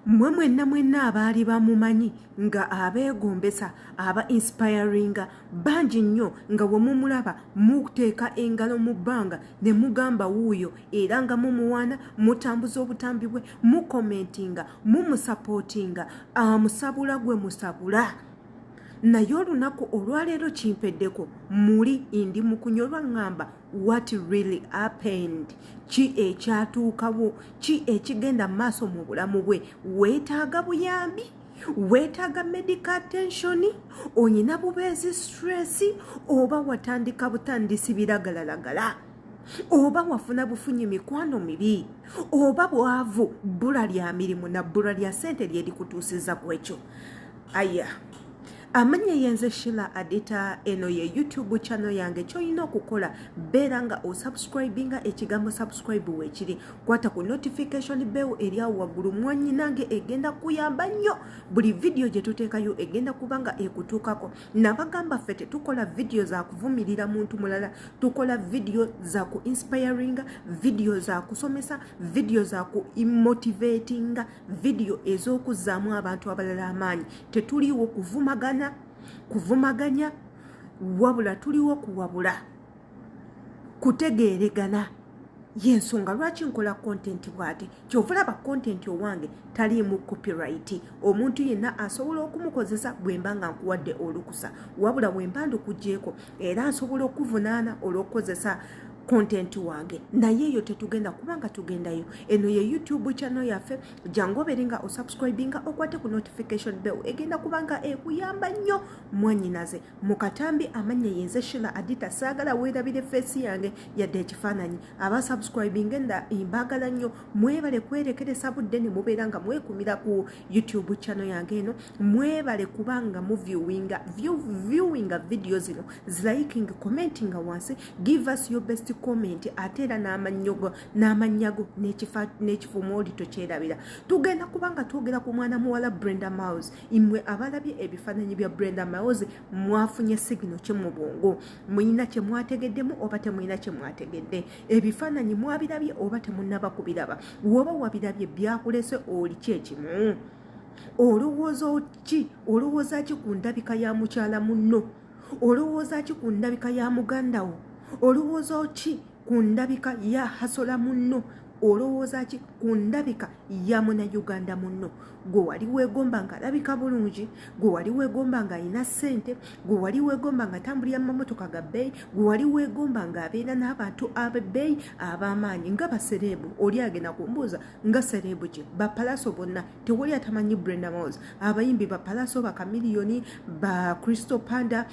mmwe mwenna mwenna abaali bamumanyi nga abeegombesa aba inspiringa bangi nnyo nga we mumulaba muteeka engalo mu bbanga ne mugamba wuuyo era nga mumuwaana mutambuza obutambi bwe mukomentinga mumusapootinga amusabula gwe musabula naye olunaku olwaleero kimpeddeko muli indi mukunyolwa ŋŋamba what really happened ki ekyatuukawo ki ekigenda mu maaso mu bulamu bwe weetaaga buyambi weetaaga medical attention olina bubeezi stress oba watandika butandisi biragalalagala oba wafuna bufunyi mikwano mibi oba bwavu bbula lya mirimu na bbula lya ssente lyerikutuusiza ku ekyo aya amanya eyenze shila adita eno ye youtube channel yange kyolina okukola beera nga osubscribinga ekigambo subscribe wekiri kwata ku notification bell eryawo waggulu mwanyi nange egenda kuyamba nnyo buli vidiyo gye tuteekayo egenda kuba nga ekutuukako nabagamba ffe tetukola vidiyo za kuvumirira muntu mulala tukola vidiyo za ku inspiringa vidiyo za kusomesa vidiyo za ku imotivatinga vidiyo ez'okuzzaamu abantu abalala amaanyi tetuliiwo kuvumagana kuvumaganya wabula tuliwo kuwabula kutegeeregana yensonga lwaki nkola kontenti bwati kyovalaba kontenti owange taliimu copyright omuntu yenna asobola okumukozesa bwemba nga nkuwadde olukusa wabula wemba ndikugyeko era nsobola okuvunaana olwokukozesa content wange naye eyo tetugenda kubanga tugendayo eno ye youtube channel yaffe jangu obeere nga osubscribinga okwate ku notification bell egenda kubanga ekuyamba nnyo mwanyinaze mu katambi amanya yenze shila adita saagala weerabire feesi yange yadde ekifaananyi aba subscribing enda mbaagala nnyo mwebale kwerekeresa budde ne mubeera nga mwekumira ku youtube channel yange eno mwebale kubanga mu viewinga view, viewinga video zino ziliking commentinga wansi give us your best comment ate era n'amanyogo n'amanyago n'ekifo mwoli tokyerabira tugenda kubanga twogera ku mwana muwala brenda mouse imwe abalabye ebifaananyi bya brenda mouse mwafunye sigino kye mu bwongo muyina kye mwategeddemu oba temuyina kye mwategedde ebifaananyi mwabirabye oba temunaba kubiraba woba wabirabye byakulese oli kyekimu olowooza ki olowooza ki ku ndabika ya mukyala munno olowooza ki ku ndabika ya muganda wo olowooza ki ku ndabika ya hasola munno olowooza ki ku ndabika ya munauganda munno gwe wali weegomba nga alabika bulungi gwe wali weegomba nga alina ssente gwe wali weegomba nga tambulira mumamotoka ga bbeeyi gwe wali weegomba nga abeera n'abantu abebbeeyi ab'amaanyi nga basereebu oli agenda kumbuuza nga serebu gye bapalaso bonna tewali atamanyi brenda mos abayimbi bapalaso bakamiliyoni ba crystal panda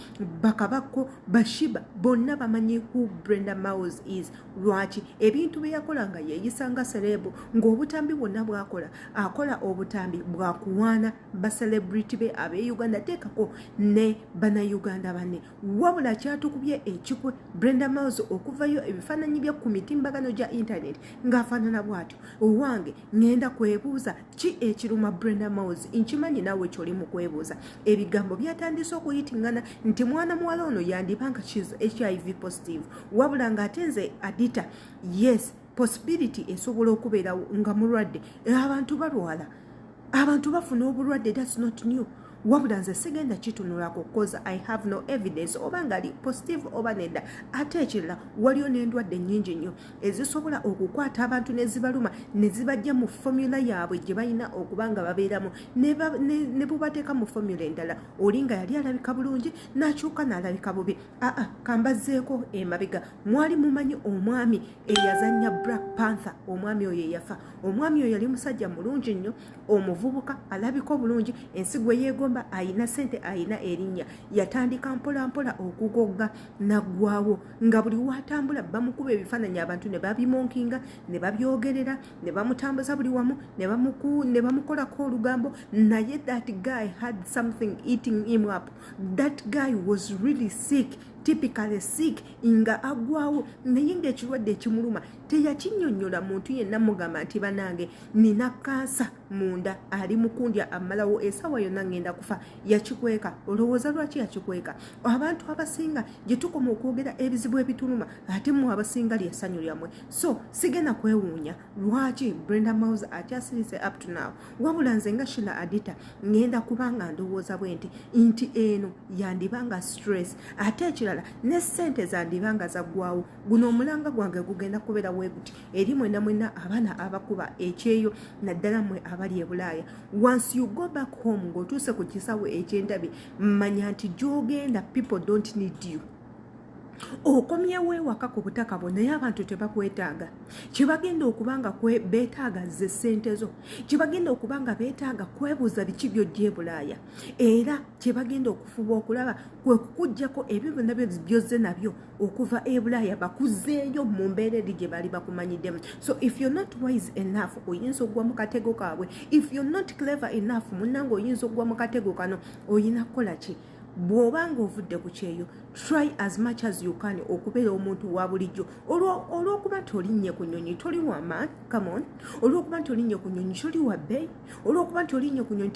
bakabakko bashiba bonna bamanyi who brenda mos is lwaki ebintu bye yakola nga yeeyisa nga serebu ng'obutambi bwonna bwakola akola obutambi bwakuwaana baselebrity be ab'e uganda teekako ne banauganda banne wabula kyatukubye ekikwe brenda miles okuvayo ebifaananyi bye ku mitimbagano gya intaneti ng'afaanana bw'atyo owange ŋŋenda kwebuuza ki ekiruma brenda miles nkimanyi naawe kyoli mu kwebuuza ebigambo byatandise okuyitingana nti mwana muwala ono yandiba nga kiz hiv positive wabula ng'ate nze adita yes possibility esobola okubeerawo nga mulwadde eh, abantu balwala abantu bafuna obulwadde thats not new wabula nze sigenda kitunulako cause i have no evidence oba ngaali positive oba nedda ate ekirala waliyo n'endwadde nnyingi nnyo ezisobola okukwata abantu nezibaluma nezibajja mu fomula yaabwe gye balina okuba nga babeeramu ne bubateeka mu fomula endala oli nga yali alabika bulungi n'akyuka n'alabika bubi aa kambazzeeko emabega mwali mumanyi omwami eyazanya black panther omwami oyo eyafa omwami oyo yali musajja mulungi nnyo omuvubuka alabika obulungi ensi gwe yeegomba ayina sente ayina erinnya yatandika mpolampola okugogga naggwawo nga buli watambula bamukuba ebifaananyi abantu ne babimonkinga ne babyogerera ne bamutambuza buli wamu ne bamukolako olugambo naye that guy had something eating him up that guy was really sick typically sick nga agwawo naye ngaekirwadde ekimuluma teyakinyonyola muntu yenna mugamba nti banange nina kansa munda ali mukundya amalawo esawa yonna ngenda kufa yakikweka olowooza lwaki yakikweka abantu abasinga gyetukoma okwogera ebizibu ebituluma ate mu abasinga lyesanyu lyamwe so sigenda kwewuunya lwaki brenda mouse akyasirise up to now wabula nze nga shila adita ngenda kubanga ndowooza bwe nti nti eno yandiba nga stress ate ekirala ne ssente zandiba nga zaggwawo guno omulanga gwange gugenda kubeera weguti eri mwena mwena abaana abakuba ekyeyo naddala mwe abali ebulaaya once you go back home ng'otuuse ku kisawo ekyendabi manya nti gyogenda people don't need you okomyewo ewaka ku butaka bwo naye abantu tebakwetaaga kyebagenda okuba nga betaaga ze ssente zo kyebagenda okuba nga betaaga kwebuuza biki byojja ebulaaya era kyebagenda okufuba okulaba kwe kukugjako ebyo byonna byozze nabyo okuva ebulaaya bakuzeeyo mu mbeera eri gye baali bakumanyiddemu so if you're not wise enough oyinza okugwa mu katego kaabwe if you're not clever enough munnanga oyinza okugwa mu katego kano oyina kukola ki bw'oba ng'ovudde ku kyeyo try as much as you can okubeera omuntu wa bulijjo olw'okuba nti olinnye ku nyonyi toli waman camon olw'okuba nti olinnye ku nyonyi toli wa bay olw'okuba nti olinnye ku nyonyi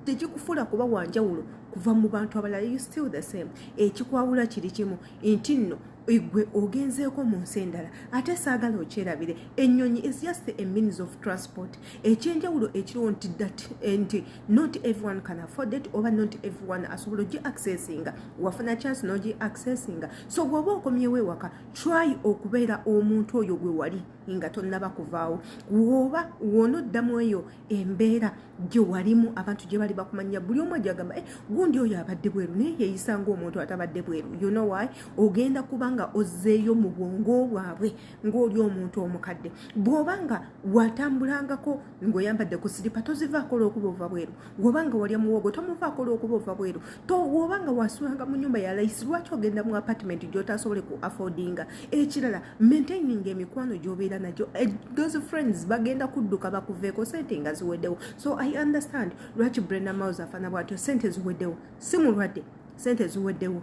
tekikufuula kuba wanjawulo kuva mu bantu abalala you still the same ekikwawula kiri kimu nti nno egwe ogenzeeko mu nsi endala ate saagala okyerabire ennyonyi is just a means of transport ekyenjawulo ekiriwo nti that eh, nti not everyone can afford it oba not everyone asobola ogi accessinga wafuna chance nogi accessinga so bwoba okomyewo ewaka try okubeera omuntu oyo gwe wali nga tonnaba kuvaawo woba wona oddamu eyo embeera gye walimu abantu gye bali bakumanya buli omu ajagamba eh, gundi oyo abadde bweru naye yeyisanga omuntu atabadde bweru you know why ogenda kubanga ozzeeyo mu bwongo bwabwe ng'oli omuntu omukadde bw'oba nga watambulangako ng'oyambadde ku siripa tozivaako olwokuba ova bweru woba nga walya muwogo tomuvaako olwokuba ova bweru woba nga wasulanga mu nyumba ya layisi lwaki ogenda mu apatimenti gy'otasobole ku affordinga ekirala maintaining emikwano gy'obeera nagyo eh, those friends bagenda kudduka bakuveeko sente nga ziweddewo so i understand lwaki brenda mouse afana bwatyo sente ziweddewo si mulwadde sente ziweddewo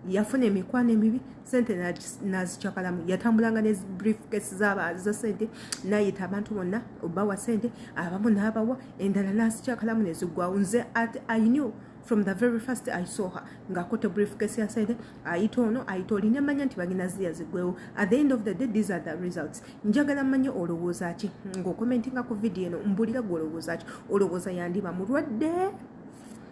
yafuna emikwano emibi sente nazicakalamu yatambulanga ne briefcase zabaza sente nayita abantu bonna obawa sente abamu nabawa endala nazicakalamu nezigwawo nze at i knew from the very first i saw her ngakote briefcase ya sente ayita ono ayita oli nemanya nti bagina ziya zigwewo at the end of the day these are the results njagala manya olowooza ki ngaokomentinga ku vidiyo eno mbulira gwe olowooza ki olowooza yandiba mulwadde